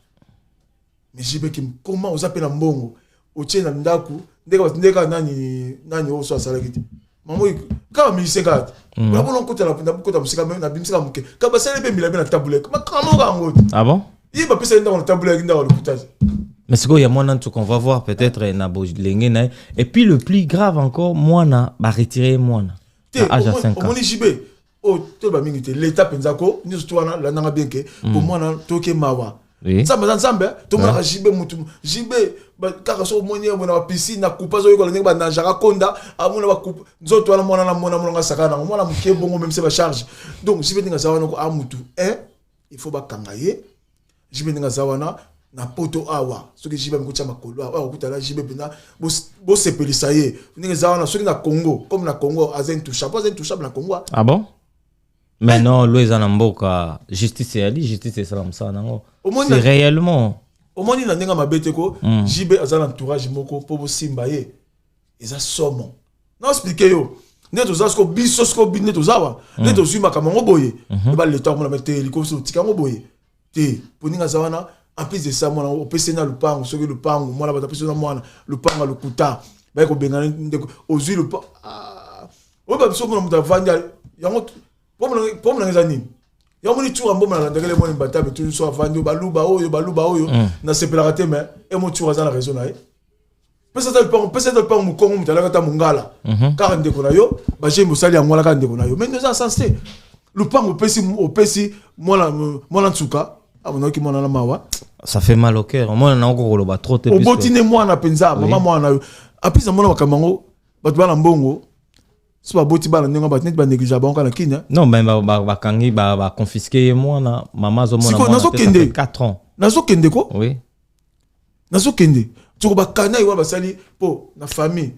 mais jibeki koma oza mpe na mbongo otie na ndako ndenge kaka nani nani oyo so asalaki te mamo kaka musicien kaka te mhm. nakono nkota nakota mosika me nabimisaka moke kaka basali mpe mbila mpe na tabuleke makambo kaka yango te ah ye bapesaki ndako na tabuleke ndako lokuta te mais sikoyo ya mwana ntuka on va voir peut-être na bolenge na ye et puis le plus grave encore mwana baretire ye mwana te omoni jibe oyo oh, toyeba mingi te leta mpenza ko nyonso to wana landanga bien ke mm. komwana toke mawa nzambe aza nzambe tomonaka jibe motu jibe kaka soki omoni ye mona bapisine na kupa azoyekola ndenge bananjaka konda amona bakupa nzoto wana mwana na mona monanga asaka nango mwana moke bongo memse bacharge donc jibe ndenge aza wana ko a motu un il faut bakanga ye JB ndenge aza wana na poto awa soki JB amikotia makolo awa okuta na JB mpenza bosepelisa ye ndenge eza wana soki na Congo comme na Congo aza intouchable aza intouchable na Congo ah bon mais eh. non lo eza na mboka justice eyali justice esala mosala nango c'est réellement omoni na ndenge mabe te ko hmm. JB aza na entourage moko mpo bosimba ye eza somo na explike yo nde toza siko biso siko bino nde toza wa nde hmm. tozwi makambo yango boye hmm. eba leta akomona mete eliko otika yango boye te poninga aza wana en plus de ça mwana opesi na lupango soki lupango mwana bato apesi na mwana lupango lokuta baye kobengana ndeko ozwi lupango ah. oyo babiso mona moto avandi yango pomona eza nini yango moni tsura mboma nalandakele mwana mbatame toujours so avandi oyo baluba oyo baluba oyo mm. nasepelaka te mais emo tsura aza na raison na ye pesa ata lupango pesa ata lupango mokongo moto alaka ata mongala mhm. kaka ndeko na yo bajemi bosali yango wana kaka ndeko na yo mais oza sans te lupango opesi opesi mwana mwana nsuka amonaki ah, mwana na mawa ça fait mal au cœur omona na oko koloba trop te oboti ne mwana mpenza mama mwana na yo apesi amona makambo yango bato bana mbongo so baboti bana ndenge bato neti banégligea bango kaka na kini non mais bakangi baconfiske ye mwana mama azomona nazokende 4 ans nazokende ko oui nazokende soko bakana ewa basali mpo na famille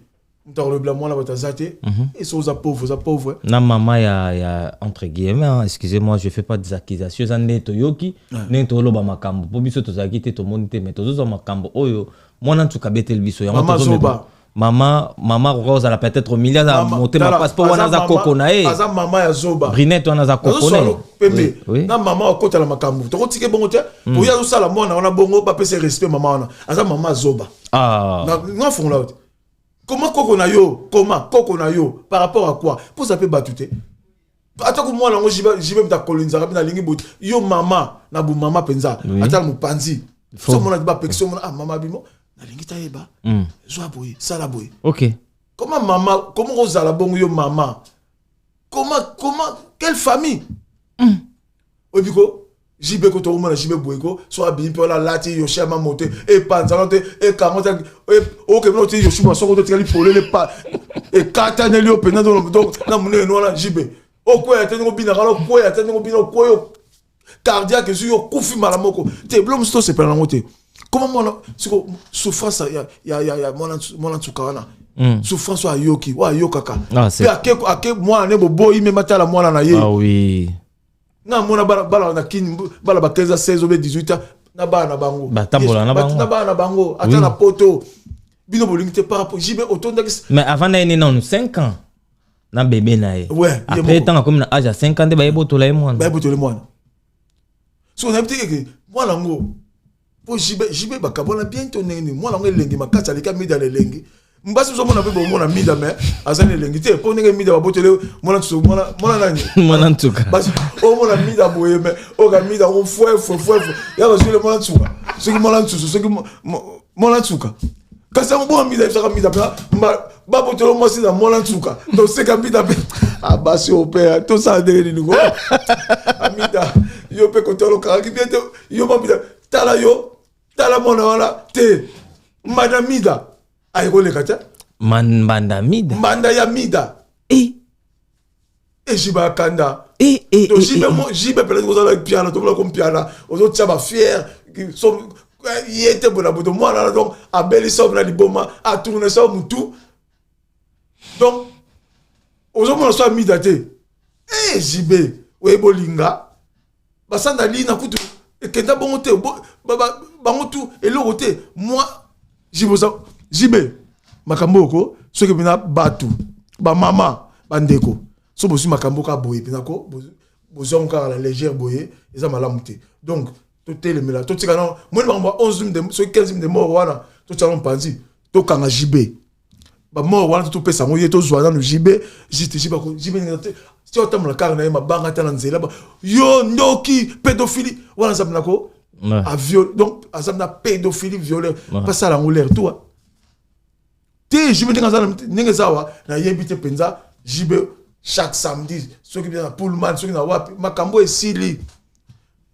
moto akolobela mwana bato aza te mhm. esi oza pauvre oza pauvre na mama ya, ya entre guillemets hein, excusez moi je fais pas des accusations eza nde toyoki ndenge toloba makambo mpo biso tozalaki te tomoni te mais tozozwa makambo oyo mwana nsuka abeteli biso yango mama mama akoka kozala peut-être milia aza Mama- motema tala, pasi po wana aza mama- koko na ye aza mama ya zoba brinette wana aza koko na ye Nazosolo pembe Oui, oui. na mama akota na makambo tokotike bongo te oyo azosala mwana wana bongo bapesa ye respect mama wana aza mama zoba Ah. Na- nga fongola yo te koma koko na yo koma koko na yo par rapport à quoi poza mpe bato te ata ko mwana yango jibe mta kolonzaka mpe nalingi boye yo mama na bomama mpenza ata na mopanzi so omona ti bapekisi omona ah mama bimo nalingi tayeba mm. zwa boye sala boye ok koma mama koma kozala bongo yo mama koma koma quelle famille mm. oyebi ko jibe ko tokomona jibe boye ko so abimi mpe wana alati yoshi ya mamo te epanzano te ekango te okende oti yoshi mwa soko totikali polele pa ekataneli yo mpenza donc na monene wana jibe okweya te ndenge obinaka wana okweya te ndenge obina okweyo cardiaque ezwi yo okufi mbala moko te bilo mosusu tosepela nango te koma mwana siko souffrance ya, ya, ya, ya mwana, mwana nsuka wana mm. souffrance oyo ayoki oyo ayokaka ah, mpe ake, ake mwana ne boboyi meme atala mwana na ye ah, oui. nga mona bana, bana na kini bana ba 15 16 obe 18 ans na bana na bango batambola na bango na bana na bango ata oui. na poto bino bolingi te par rapport jibe otondaki mais avant na ye ne nanu 5 ans na bebe na ye ouais, après ntango akomi na age ya 5 ans nde baye botola ye mwana baye botola ye mwana soki onayebi te keke mwana yango mpo jibe jibe bakabwana bien to ndenge nini mwana yango elengi makasi aleki amida na elengi mbasi ozomona mpe bomona mida me aza na elengi te mpo ndenge mida babotele mwana ntusu mwana nani mwana ntuka basi omona mida boye me oyoka mida ngo fwefwefwefu ya bazwile mwana ntuka soki mwana ntusu soki mwana ntuka kasi yango bona mida ebisaka mida mpenza babotolo mwasi na mwana nsuka toseka mbita mpe abasi oyo mpe tosala ndenge nini ngo amita yo mpe kotolokakaki mpe te yo mambita tala yo tala mwana wana te mbanda mida ayekoleka te mbanda mida mbanda ya mida e ejiba kanda to jibe mo jibe pele ko zala piana to ko piana ozo tia ba fier so ye te bona boto mwana na donc abeli sa na liboma a tourner sa mutu donc ozo mona so amida te eh jibe oye bolinga basanda lina kutu ekenda bongo te bango tu eloko te moi jiboza jibe makambo oko soki mpena bato bamama bandeko so bozwi makambo kaka boye mpena ko bozwango kaka na légère boye eza malamu te donc totelemela totika na moni makambo ya 11 soki 15 de mort wana totiaka mpanzi tokanga jibe ba mort wana to pesa ngo ye to zwa na JB jiti jiba ko jibe na te ti otambola kaka na ye mabanga ta na nzela ba yo ndoki pédophilie wana zamu na ko a viol donc azam na pédophilie violeur pas ça la l'air toi te jibe ndenge aza ndenge zawa na yebi te penza jibe chaque samedi soki bien na pullman soki na wapi makambo esili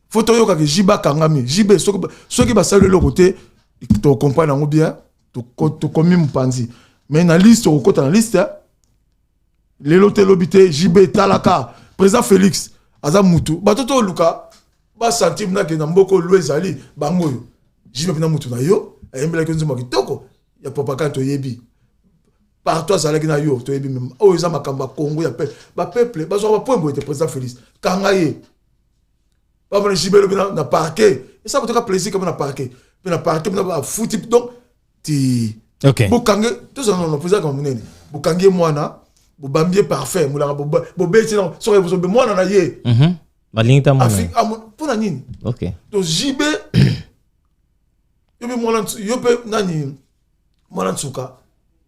faut toyokaka jibe akangami jibe soki basali eloko te tokocomprendre yango bien tokomi mopanzi me na liste okokota na liste eh? lelo te lobi te jb talaka président félix aza mutu bato to oluka basentir nake na mboka olu ezali bango oyo jb mpena mutu na yo ayembelaki yo nzembo kitoko ya propagande toyebi partout azalaki na yo toyebi meme oyo oh, eza makambo ya congo ya peuple bapeuple bazwaka bapoembo ete président félix kanga ye bavanda jibelo mpe na parke esa motoka plaisir kama na parke mpe na parke mpe na bafuti donc ti okay. bokange tozala nono mpo ezalaka monene bokangi ye mwana bobambi ye parfum molaka bobeti na soki bozobe mwana na ye mhm. balingi ta mwana ah, mpo na nini to jibe yo mpe mwana yo mpe nani mwana nsuka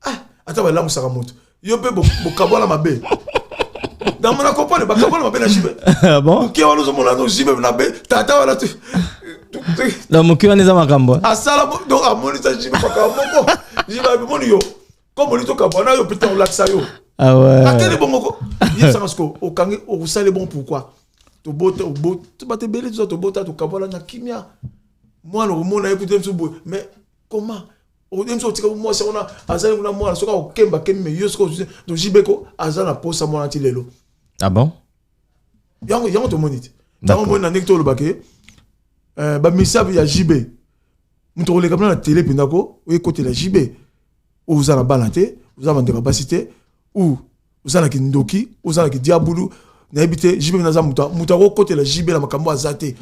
ah, ata balamusaka moto yo mpe bokabwana mabe namona kopone bakabwana mabe na jibe ah moke wana ozomona no jibe na be tata wana na moke wana eza makambo asala donc amonisa jibe makambo moko jibe abimoni yo comme oli tokabwana yo mpe ntango olakisa yo ah ateli bongoko yebisaka siko okangi okosali bon pourquoi tobota bato ebele toza tobota tokabwana na kimia mwana okomona ye kutu ye mosusu boye mais comment oyebi soki otika mwasi yango na azali kuna mwana soki akokemba kembi me yo soki tojibeko aza na posa mwana ti lelo ah bon yango yango tomoni te yango omoni na ndenge tolobaka ye eh, bamisabu ya jb moto koleka mna na tele mpenza ko oyekotela jb ozala bana te oza bandeko ya basi te ou oza na kindoki oza na kidiabulu nayebi te jibe mpe naza moto moto akokotela jibe na makambo aza te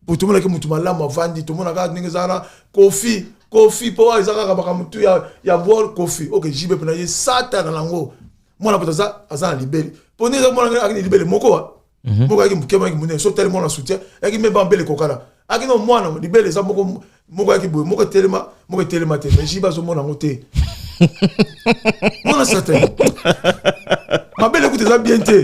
po tomonaki moto malamu avandi tomona kaka ndenge eza wana kofi kofi mpo eza kaka makambo tu ya, ya bol kofi ok jibe mpe na ye satana nango mwana moto aza, aza na libele mpo ndenge mwana akende libele moko wa Mhm. moko ayaki moke mayaki monene so tali mwana soutien ayaki meme bambele kokana ayaki no mwana libele eza moko moko ayaki boye moko etelema moko etelema te mais jiba azomona yango te mwana certain mabele kuta eza bien te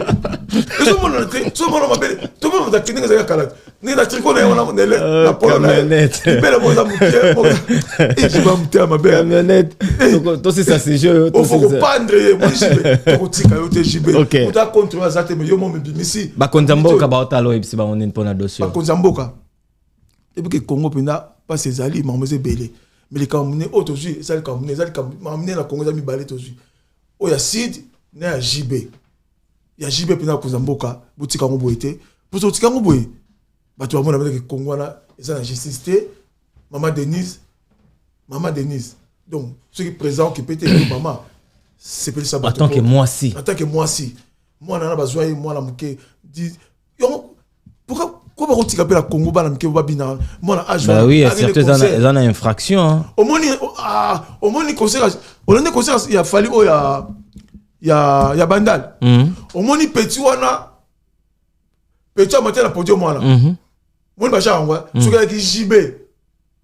ezomonana te so mwana mabele tomona ndenge ezalaki kala ndenge na triko na ye wana mondele euh, na polo na ye libele moza moke ekiba motema mabe tosisa sujet oyo ofo kopandre ye moi jibe tokotika yo te jibe moto acontrole aza te me yo mo mibimisi bakonzi ya mboka baotala oyebisi bango nini mpo na dossier bakonzi ya mboka epuke congo mpenza mpasi ezali makambo eza ebele me likambo mine oyo tozwi eza likambo mine eza likambo makambo mine na congo eza mibale tozwi oyo ya sud na ya jibe ya JB mpena akonza mboka botika yango boye te mposo otika yango boye bato bamona mpenza ke Congo wana eza na justice te mama Denise mama Denise donc soki président okipe te yo mama sepelisa bato en tant que mwasi en tant que mwasi mwana wana bazwa ye mwana moke yango pourquoi ko bakotika mpe na congo bana mike babina mwana age bah oui surtout eza na infraction hein. omoni ah, omoni concert olande concert ya fali oyo ya ya ya bandal mhm. omoni petit wana petit amati na podium wana mhm. omoni bashaka yango eh? mhm. soki ayaki jibe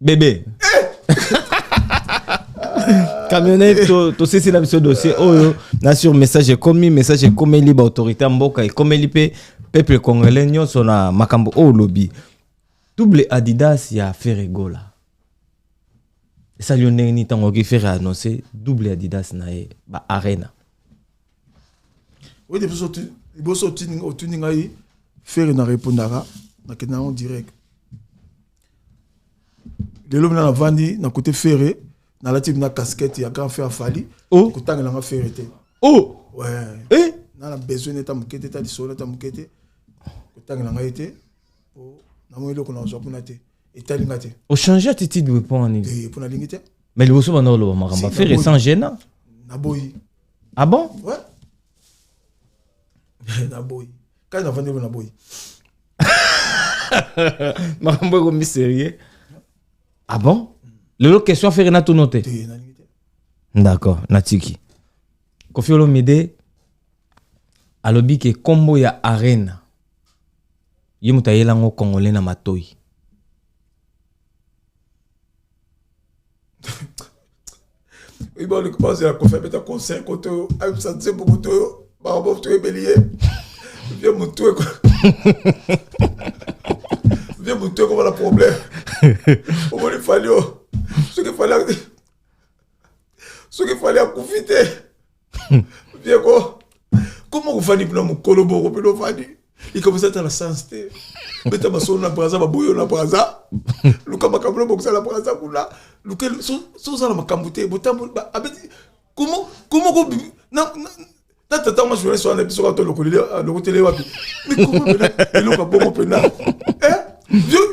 bebe camionnette tosisi na biso dossier oyo na sur message ekomi message ekomeli baautorité ya mboka ekomeli mpe peuple congolais nyonso na makambo oyo olobi double adidas ya feregola esali yo ndenge nini ntango oki fere annonce double adidas na ye ba arena oyebi biso liboso otuni ngai fere na repondaka nakenda yango direct lelo mina navandi na kote ferre nalati mina casquette ya grand frère fali oh. kotangela nga ferre te oh. ouais. eh? na na besoin neta moke te ta lisolo neta moke te kotangela ngai te po namoni eloko nazwa kuna te etali nga te ochange attitude we mpo na nini eh, mpo nalingi te mais liboso banda oloba makambo afere sans gêne naboyi ah bon ouais naboyi kani navandi elo na boyi makambo ekomi sérieux ah bon lelo question fere natuno te d'accord natiki kofi olomide alobi ke nkombo ya arena ye moto ayela yango congolais na matoi oyeba oleki bazela kofi abeta conseil kote oyo ayebisa nzembo kote oyo baobof toyebeli ye vie motu eko vie motu ekoma na problème omoni fali o soki fali soki fali akufi te Diego, comment vous faites pour mon coloboro, mais vous faites il commence à être à la sens te beta basolo na braza baboyo na braza luka makambo na bokosala braza kuna luka sozala makambo te botambo abeti comment comment ko na na tata mwa journaliste wana biso kaka tolokoleli alokoteli ah, wapi mikoma pena eloko bongo pena eh?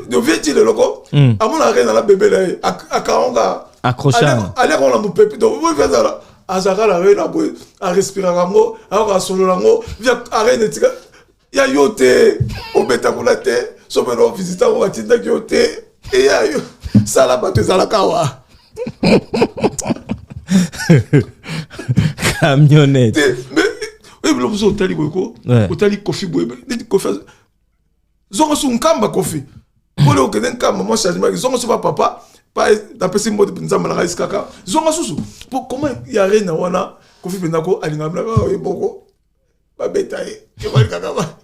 dovieti leloko hmm. amonaka kaka na bebe na ye akaonga accrochage aliaka wana mopepe donc oyo ezala azalaka na rena boye arespiraka yango ayoka asolola yango arena etika ya yo te obeta kuna te soki na ovisite yango batindaki yo te eya yo sala bato ezalaka wa camionnette te mais ebilo mosusu otali boye ko otali kofi boye neti kofi zongo su nkamba kofi pole okende nkamba mwa changement ki zongo su ba papa pa napesi mbote mpenza malanga esi kaka zonga susu po koma ya rena wana kofi mpenza ko alingaka mlaka oyo oh, moko babeta ye alingaka ba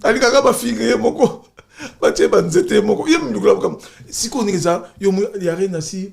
alingaka bafinga ye moko batie banzete ye moko ye mlukula makambo sikoyo ndenge eza yo ya rena si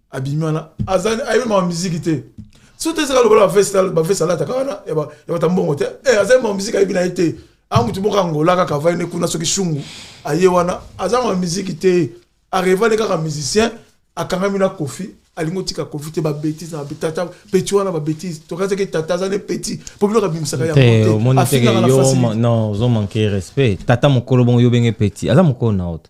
abimi wana azali ayebi mawa miziki te soki te ezaka lokola bavesi alataka wana ya bata mbongo te eh, azali mawa miziki ayebi na ye te a motu moko angola kaka avai ne kuna soki shungu aye wana aza mawa miziki te areva ne kaka musicien akangami na kofi alingi otika kofi te babetise na tata peti wana babetise tokazaki tata aza ne peti mpo bino kabimisaka yangoteozomanke respect tata mokolo bongo yo benge peti aza mokolo na oto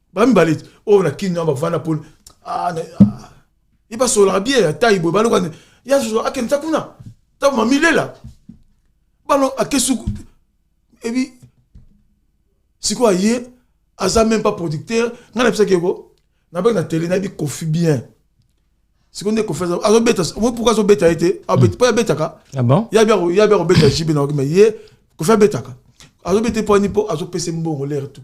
ba mibale oyo oh, na kin na bavanda mpo ah, ah. ye basololaka bie ya tai boye baloka ya zozo akendisa kuna ntango mamilela bano akesuku ebi sikoyo aye aza meme pas producteur ngai nabisaki yeko nabaki na tele nayebi kofi bien sikoyo nde kofi azobeta omoi pourkui azobeta ye te mpo abetaka yabi akobeta jibe na oki ma ye kofi abetaka azobeta ye mpo ani mpo azopesa mbongo lere tout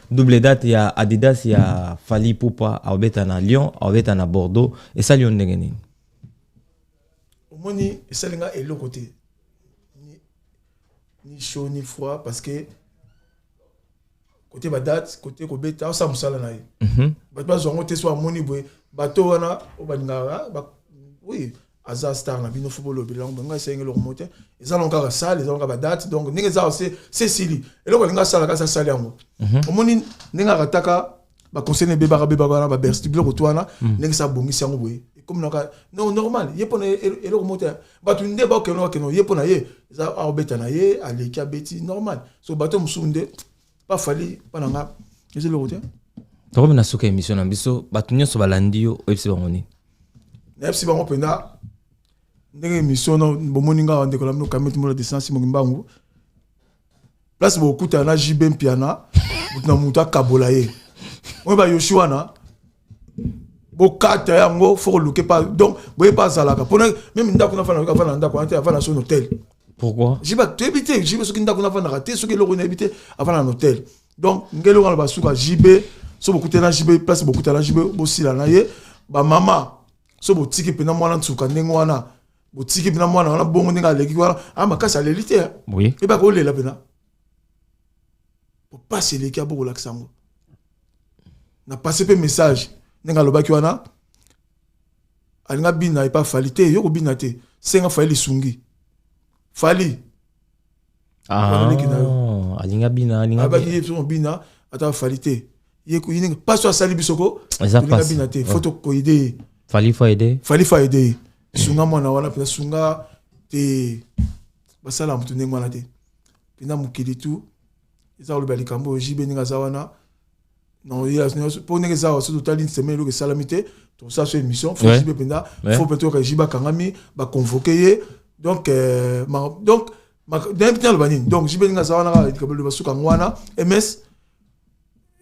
double date ya adidas ya fali pupa aobeta na lyon aobeta na bordeaux esali yo ndenge nini omoni esali nga eloko te ni chaud ni froid parce que kote badate kote kobeta osa mosala na ye mhm. bato bazwa yango te so amoni boye bato wana oyo balingaka oui aza star na bino fo bolobela yango ngai esengi eloko moko te eza nango kaka sale eza nango kaka badate donc ndenge eza se sili eloko alingi asala kasi asali yango mhm. omoni ndenge akataka baconseil na ebebaka bebaka wana babersti biloko to wana mhm. ndenge sa abongisi yango boye ekomi naka no normal ye mpona eloko moko te bato nde bakeno bakeno ye mpona ye eza akobeta na ye aleki abeti normal so bato mosusu nde pa fali pa na nga eza eloko te tokomi na suka émission na biso bato nyonso balandi yo oyebisi bango nini nayebisi bango mpenza ndenge émission na bomoni nga ndeko na bino kameti mola desansi moki mbangu place bokutana na jb mpiana moto na moto akabola ye oyo bayoshi wana bokata yango fo koluke pa donc boye pa azalaka mpona meme ndako nafandaka avanda na ndako wana te avanda na so na hotel pourquoi jiba toyebi te jibe soki ndako nafandaka te soki eloko nayebi te avanda na hotel donc ngeli wana basuka jibe so bokutana na jibe place bokutana na jibe bosila na ye bamama so botiki mpena mwana nsuka ndenge wana botiki mpena mwana wana bongo ndenge aleki wana a ah, makasi aleli te ebaka olela mpena popasi eleki ya bokolakisa yango na pase mpe message ndenge alobaki wana alinga bina epa fali te yo kobina te senga fali lisungi fali ah, alinga bina alinga bina ata fali te ye ndenge mpasi asali biso ko alinga bina te fo tokoyede ye fali fo aide fali fo aide ye sunga mwana wana mpenza sunga te basala moto ndenge wana te pena mokili tu eza koloba likambo oyo jibe ndenge aza wana mpo ndenge eza awa soki totali nsema eloko esalami te tosala so émission fo jibe mpenza fo mpe toyoka jibe akangami baconvoke ye donc euh, donc nayebi te aloba nini donc jibe ndenge aza wana kaka likambo eloba suka yango wana ms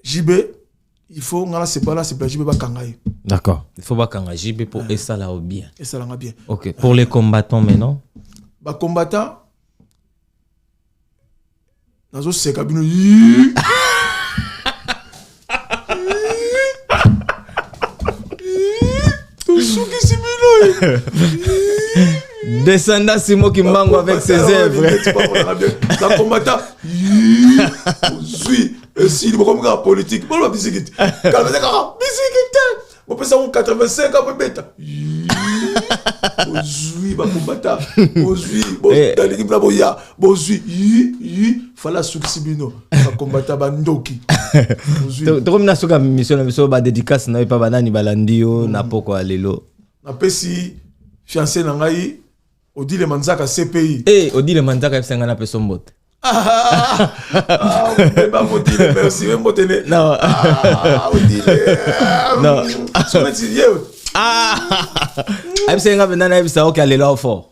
jibe il faut nga nasepela nasepela jb bakanga ye d'accord il faut bakanga jb pour esala o bien esalanga bien ok pour les combattants maintenant bacombattants nazoseka bino tosukisi bino descenda simo kimbangu avec ses œuvres bakombata ozwi esili bokomi kaka politike boloba bisikiti kalmete kaka bisikite bopesa yango 85 apo ebeta bozwi bakombata bozwi eh. nalingi mpona boya bozwi yi fala asukisi bino bakombata bandoki tokomi na soki ya misio na biso badedikase na yo epa banani balandi yo hmm. na poko ya lelo napesi fiance na ngai odile manzaka cpi eh, odile manzaka yebisa ngai napesa mbote ayebisa ye nga mpenza nayebisa oke alela o fort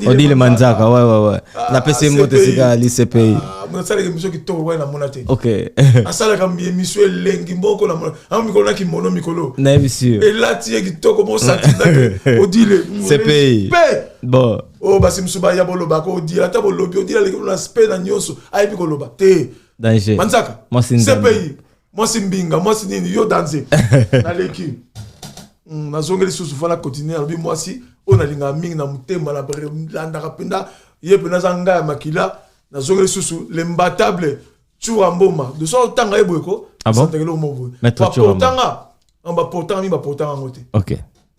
odile manzaka ouais ouais ouais ah, napesi mbote sika lisepei ah, nasalaka émission kitoko wana namona te ok asalaka émission elengi mboko namona yango mikolo na kimono mikolo nayebi sur elati ye kitoko mosakizake odile sepei bon oyo oh, basi mosusu baya bolobaka odila ata bolobi odila aleki na spe na nyonso ayebi koloba te manzaka cpi mwasi mbinga mwasi nini yo danze naleki hmm, nazongi lisusu fana continue nalobi mwasi oyo nalingaka mingi na motema nalandaka mpenza ye mpenza aza ngai ya makila nazongi lisusu lembatable cura mboma de so otanga ye boyeko ah santakeli omo boye baportanga baportanga mingi baportanga yango te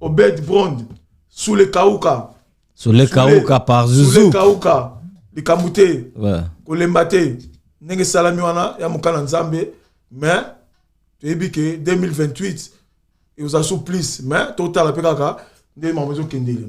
Obed Brond, Sule Kauka. Sule Kauka par Zuzu. Sule Kauka, likambo te. Ouais. Kolemba te. Ndenge esalami wana ya mokana Nzambe, mais toyebi ke 2028 ekozala sous plus, mais totala mpe kaka nde makambo ezokendele.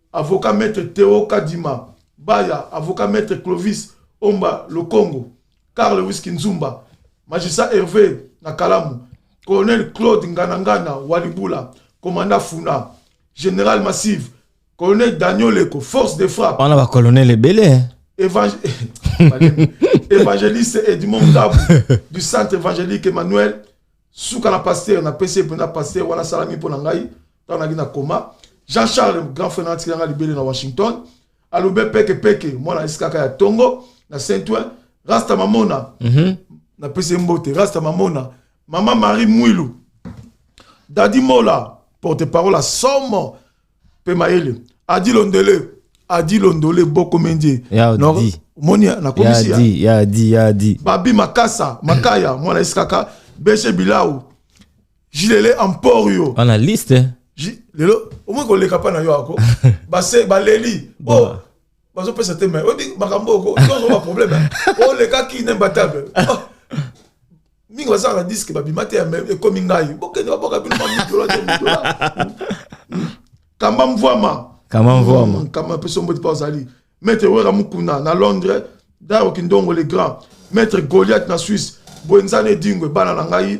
Avocat Maitre Theo Kadima Baya, Avocat Maitre Clovis Omba Lokongo, Carl Whisky Nzumba, Magistrat Herve na Kalamu, Colonel Claude Nganangana Walibula, Commandant Funa, General Massive, Colonel Daniel Leko, Force de Frappe. On a ba colonel ebele. Hein? Évangé... évangéliste Edmond Ndabou du centre évangélique Emmanuel suka na pasteur na pesi mpena pasteur wana asalami mpo na ngai ntango naki na koma jean charles grand frère natikela nga libele na washington alube peke peke mwana eskaka ya tongo na saint oin rasta mamona mm -hmm. napesi ye mbote rasta mamona mama marie mwilu dadi mola porte parole ya somo mpe mayele adi londele adi londole boko mendie omoni nakomisi ya babi makasa makaya mwana eskaka beshe bilau jilele emporio analyste Ji- lelo omoi koleka mpa na yo ako base baleli Ba- o bazopesa te mai oyebi makambo oyo ko- nyonso baproblème olekaki inimbatable Oh, mingi bazalaka na diske babima te ya mai ekomi ngai bokende babwaka bino mamidola te midola kamba mvwama kama mvwama Mm, kama mpe sombodi mpo azali maître wera mukuna na londres daro kindongo le grand maître goliath na suisse boenzani edingwe bana na ngai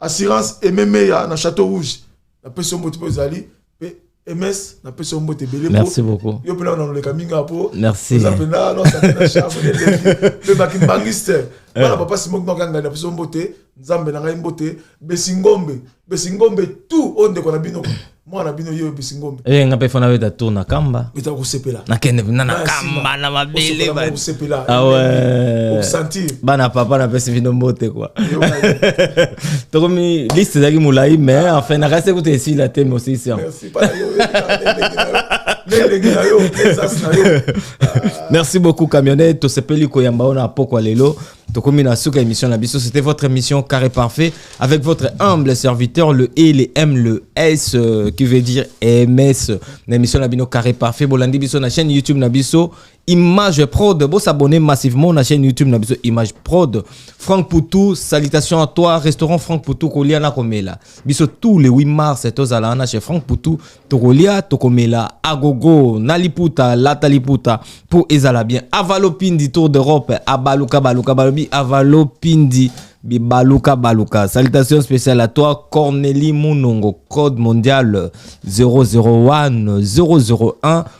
Assurance Aimé Meya na Château Rouge. Na peso mbote pe ozali pe MS na peso mbote belé. Merci beaucoup. Yo pela na leka minga po. Merci. Za pena no sa pena chavo de levi. Pe ba kimbangiste. Bana papa Simon ko kanga na peso mbote. Nzambe na ngai mbote. Besingombe. Besingombe tout onde ko na bino. mwana bino yo bisi ngombe eh nga pe fana beta tour na kamba beta ko sepela na kende na na kamba na mabele ba ko sepela ah ouais sentir bana papa na pesi bino mbote quoi tokomi liste zaki mulai mais enfin na kasi kutu esi la teme aussi c'est merci pas yo merci beaucoup camionnette tosepeli koyamba ona pokwa lelo Tokomi na suka émission na biso, c'était votre émission Carré Parfait avec votre humble serviteur le E, le M, le S euh, qui veut dire MS. Na émission na bino Carré Parfait, bolandi biso na chaîne YouTube na biso Image Prod, bo s'abonner massivement na chaîne YouTube na biso Image Prod. Franck Poutou, salutations à toi, restaurant Franck Poutou kolia na komela. Biso tous les 8 mars tozala na chez Franck Poutou tokolia tokomela agogo na liputa lata liputa mpo ezala bien avalopindi tour d'europe abaluka baluka balobi avalopindi bibaluka baluka salutation spéciale à toi corneli munongo code mondial 001 001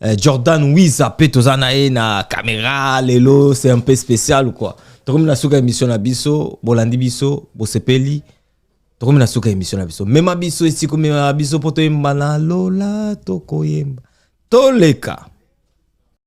Eh, Jordan Wiza pe toza na ye na camera lelo c'est un peu spécial ou quoi tokomi na suka émission na biso bolandi biso bosepeli tokomi na suka émission na biso mema biso esiko mema biso mpo toyemba na lola tokoyemba toleka